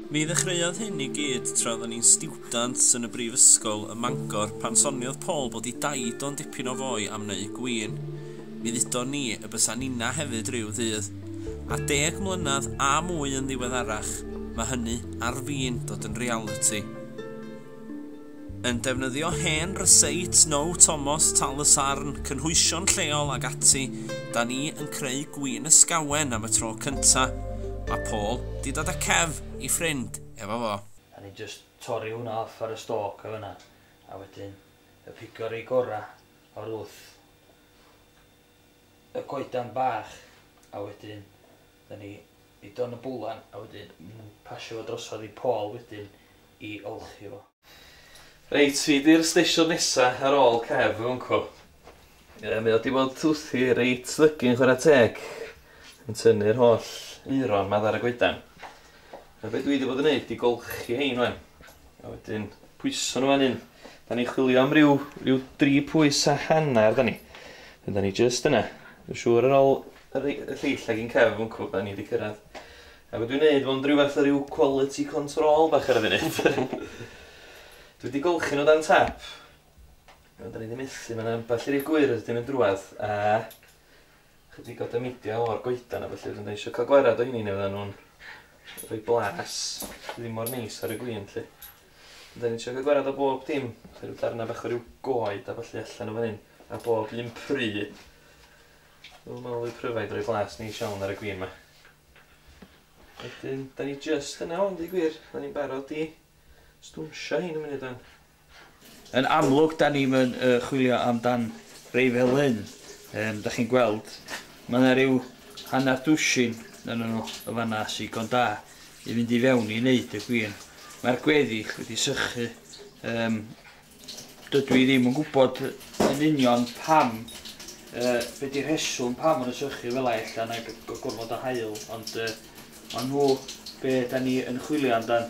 Mi ddechreuodd hyn i gyd tra oeddwn i'n stiwdant yn y brifysgol ym Mangor pan soniodd Paul bod i daid o'n dipyn o foi am neu gwin. Mi ddudon ni y bysa ninna hefyd ryw ddydd. A deg mlynedd a mwy yn ddiweddarach, mae hynny ar fin dod yn realiti. yn defnyddio hen ryseits now Tomos Tal y Sarn, cynhwysion lleol ag ati, da ni yn creu gwin ysgawen am y tro cynta. Mae Paul 'di dod a Kev, ei ffrind, efo fo. A ni'n jyst torri hwnna off ar y stalk o fanna a wedyn y pigo rei gora o'r wth. y goedan bach a wedyn da ni i Don y Bwlan a wedyn yn pasio fo drosodd i Paul wedyn i olchi fo. Reit, fi 'di'r steisiwn nesa ar ôl Kev, fy uncle. Ie, mae o 'di bod wrthi reit ddygyn chwarae teg, yn tynnu'r holl aeron 'ma ar y goedan. A be' dwi 'di bod yn neud 'di golchi 'hein 'wan. A wedyn pwyso nhw fan hyn. Da ni'n chwilio am ryw, ryw dri pwys a hanner, da ni. Fe da ni just yna. Dwi'n siŵr ar ôl y lleill ag i'n cef yn cwb, da ni wedi cyrraedd. A dwi'n neud fo'n rhyw fath o ryw quality control bach ar y funud. Dwi wedi golchi nhw dan tap. Da ni wedi methu, mae'n ambell i rif gwyrdd, dim yn drwad. A Chydig o dameidiau o'r goedan a felly, dwi'n eisiau cael gwared o hynny neu fydden nhw'n rhoi blas ddim mor neis ar y gwyn, lle. Dwi'n eisiau cael gwared o bob dim, felly rhyw darnau bach o ryw goed a felly allan o fan hyn, a bob un pry. Dwi'n meddwl y pryfaid rhoi blas neis iawn ar y gwyn yma. Wedyn, da ni just yna ond i gwir, da ni'n barod i stwnsio hyn yn mynd i dan. Yn amlwg, da ni'm yn chwilio am dan rei fel hyn, yym, da chi'n gweld. Mae yna ryw hanner dwsin ohonyn nhw yn fan'na sy'n ddigon da i fynd i fewn i wneud y gwin. Mae'r gweddill wedi sychu. Yym, dydw i ddim yn gwybod yn union pam, yy, be di rheswm pam maen nhw'n sychu fel yna, ella na gormod o haul, ond yy, maen nhw be da ni yn chwilio amdan.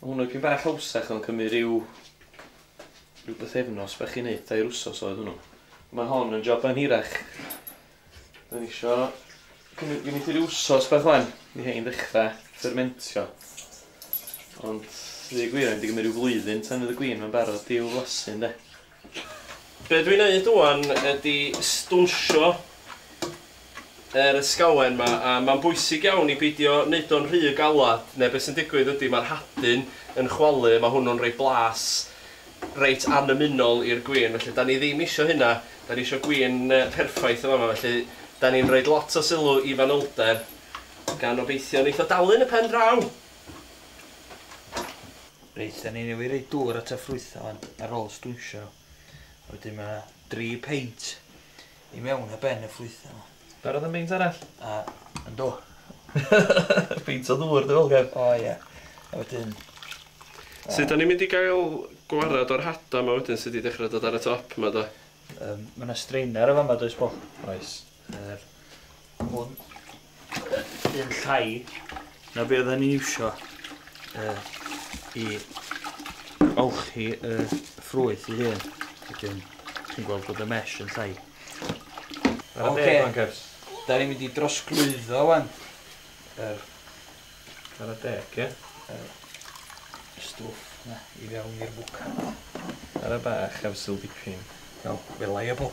Mae hwn yn dipyn bach hawsach mae'n cymryd rhyw rhyw bythefnos bach i wneud, dair wsos oedd hwnnw. Mae hon yn job yn hirach. Dwi'n isio cymryd gen i rhyw wsos bach wan i hein ddechrau fermentio. Ond ddi gwir, mae'n di gymryd rhyw flwyddyn tan fydd y gwin mae'n barod i'w flasu ynde? Be dwi'n neud ŵan ydi stwnsio yr ysgawen 'ma a ma'n bwysig iawn i beidio neud o'n rhy galad ne' be' sy'n digwydd ydi ma'r hadyn yn chwalu a ma' hwnnw'n roi blas reit annymunol i'r gwin felly 'dan ni ddim isio hynna 'dan ni isio gwin yy perffaith yn fama felly 'dan ni'n roid lot o sylw i fanylder gan obeithio neith o dalu'n y pen draw! Reit, da ni newydd roi dŵr at y ffrwythau ond ar ôl stwnsio nhw. Wedyn mae yna dri peint i mewn a ben y ffrwythau yma. Barod am beint arall? A, yn do. Peint o ddŵr dy fel O ie. A wedyn... Sut da ni'n mynd i gael gwared o'r hada yma wedyn sydd wedi dechrau dod ar y top yma da? Yym, mae yna strainer yn fama does Paul? Oes. Yr hwn yn llai na be oedden ni'n iwsio uh, i olchi y uh, ffrwyth i hyn. Wedyn, chi'n gweld bod y mesh yn llai. Ar y deg, Wankers. Da ni'n mynd i drosglwyddo, wan. Yr... Ar y deg, ie? Yr... Stwff, na, i fewn i'r bwca. Ar y bach, ar y syl dipyn. Wel, welai y bol.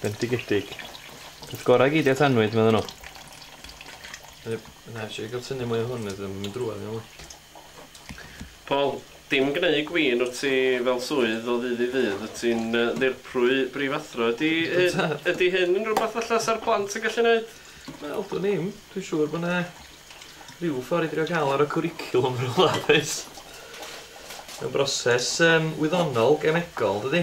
Bendigedig. Peth gorau gei di at anwyd, meddyn nhw. Na, eisiau gael tynnu mwy o hwn, ydw i'n mynd drwad yn ôl. Paul, dim gneud gwin wt ti fel swydd o ddydd i ddydd, wt ti'n ddirprwy brifathro. Ydy ydy hyn yn rhywbeth falla sa'r plant yn gallu neud? Wel, dwn i'm. Dwi'n siŵr bod yna rhyw ffordd i drio cael ar y cwricwlwm rhywle does? Mae'n broses wyddonol, gemegol, dydi?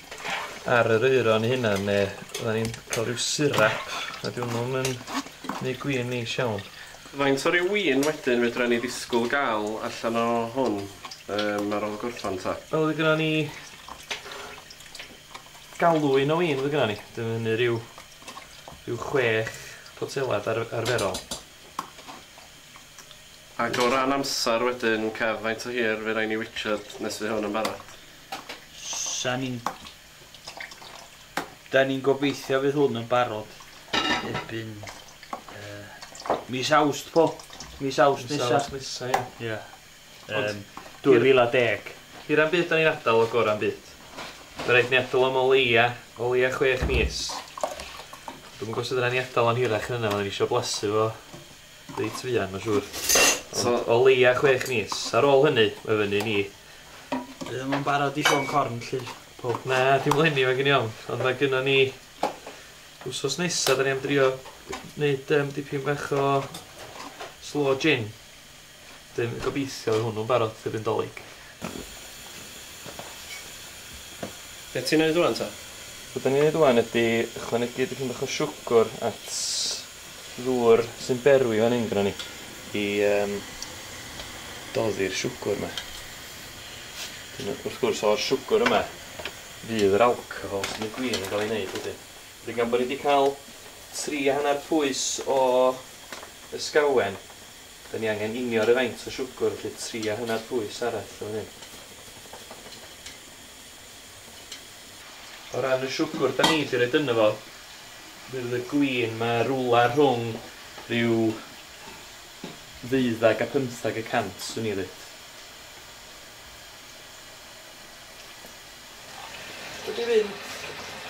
ar yr aeron 'i hunan ne' fyddan ni'n ca'l ryw sirap a 'di wnnw'm yn neu' gwin neis iawn. Faint o ryw win wedyn fedran ni ddisgwl ga'l allan o hwn yym ar ôl gorffan 'ta? Wel fy' gynnon ni galwyn o win fy' gynnon ni, dw i'n mynu ryw ryw chwech potelad ar- arferol. Ag o ran amsar wedyn Kev faint o hir fy' rai' ni witchad nes fy' hwn yn barod? Sa ni'n... Da ni'n gobeithio fydd hwn yn barod erbyn uh, mis awst po. Mis awst nesa. Mis awst nesa, ia. Ia. Um, 2010. Hir am byd da ni'n adael o gor am byd. Mae rhaid ni adael am o leia, o leia chwech mis. Dwi'n gwybod sut yna ni adael o'n hirach yn yna, mae ni eisiau blasu fo. Reit fuan mae'n siŵr. So, o leia chwech mis. Ar ôl hynny, mae fyny ni. Dwi ddim yn barod i sôn corn, lly. Po. Na, dim leni, mae gen i ofn. Ond mae gynno ni... Wsos nesaf, da ni am drio wneud um, dipyn bach o slow gin. Dyn, gobeithio hwnnw'n barod, y byndolig. Be' ti'n neud ŵan ta? Be' 'dan ni'n neud ŵan ydi ychwanegu dipyn bach o siwgwr at ddŵr sy'n berwi fan 'yn gynnon ni i yym doddi'r siwgwr 'ma. Dyna wrth gwrs o'r siwgwr yma fydd yr alcohol sy'n y gwin yn ga'l ei neud wedyn. Wedyn gan bo' ni 'di ca'l tri a hannar pwys o ysgawen 'da ni angen inio ryw faint o siwgwr felly tria hynna'r pwys arall yn fan hyn. O ran y siwgwr 'da ni 'di roid yno fo, fe fydd y gwin 'ma rwla rhwng ryw ddeuddeg a phymtheg y cant swn i'n ddeud. Wedi mynd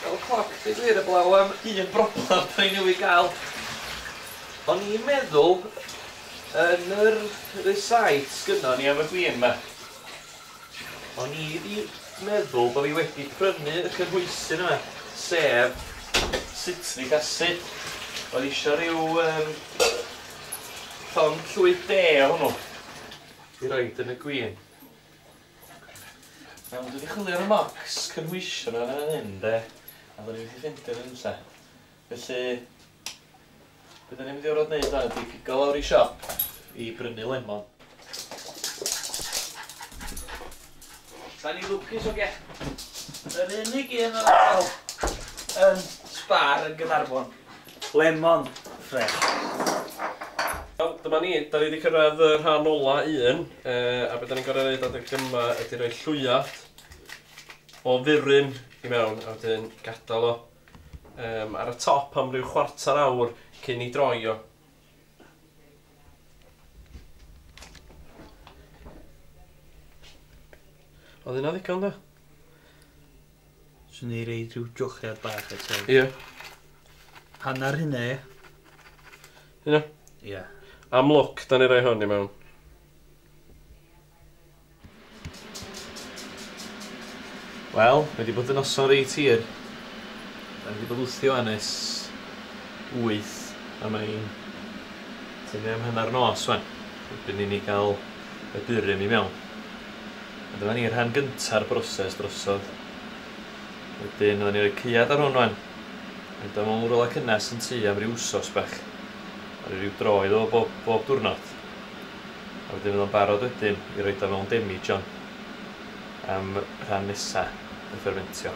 fel y cloc deud gwir eblaw am un broblem da ni newydd gael. O'n i'n meddwl yn yr recite sgynnon ni am y gwin 'ma o'n i 'di meddwl bo' fi wedi prynu y cynhwysyn yma sef citric acid. Oedd isio rhyw yym llond llwyth de o hwnnw i roid yn y gwin. Iawn, dwi 'di chwilio ar y marcs cynhwysion yna fan hyn, de, a do'n i methu ffeindio nhw unlle. Felly, be da ni'n mynd i orfod neud wan ydi pigo lawr i siop i brynu lemon. Da ni lwcus oge. Yr unig un yn sbar yn Gaernarfon. Lemon fresh. Wel, dyma ni, da ni wedi cyrraedd y rhan ola un, a beth da ni'n gorau gwneud adeg yma ydy rhoi llwyat o furyn i mewn, a wedyn gadael o um, ar y top am ryw chwarter awr cyn i droi o. Oedd hynna ddigon da? Swn i reid rhyw jochiad bach eto. Ie. Hanner hynna ie? Hynna? Ie. Am lwc, da ni roi hwn i mewn. Wel, mae wedi bod yn noson reit hir. Da ni wedi bod wthio wan ers wyth a mae'n tynnu am hanner nos wan. Erbyn i ni gael y burum i mewn. A dyma ni, rhan gynta'r broses drosodd. Wedyn fydda ni'n rhoi caead ar hwn wan. Roid o mewn rwla cynnes yn tŷ am ryw wsos bach. A rhoi ryw dro iddo fo bob, bob diwrnod. A wedyn fydd o'n barod wedyn i roid o mewn demijohn am rhan nesa y ffermentio.